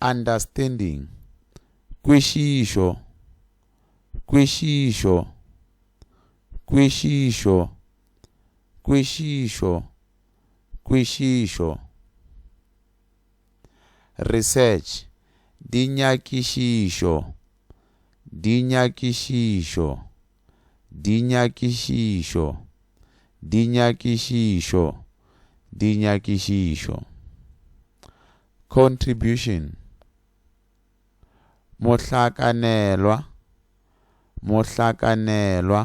Understanding, kwešišo, kwešišo, kwešišo, kwešišo, kwešišo. Research, dinyakišišo, dinyakišišo. Dinyakišišo, dinyakišišo, dinyakišišo. Contribution, mohlakanelwa, mohlakanelwa,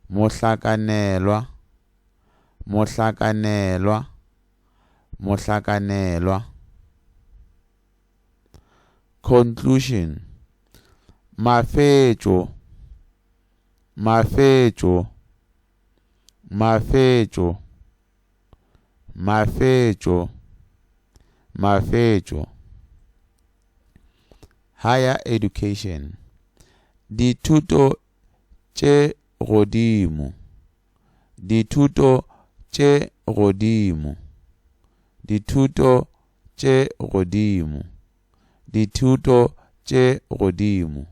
mohlakanelwa, mohlakanelwa, mohlakanelwa. Conclusion Mafetšo Mafetšo Mafetšo Mafetšo Mafetšo Higher Education Dithuto tše godimo Dithuto tše godimo Dithuto tše godimo, dithuto tše godimo,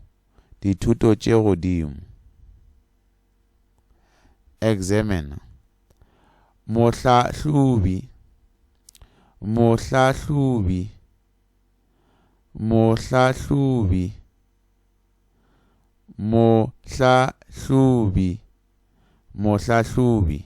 dithuto tše godimo. Examiner, mohlahlobi, mohlahlobi, mohlahlobi, mohlahlobi, mohlahlobi.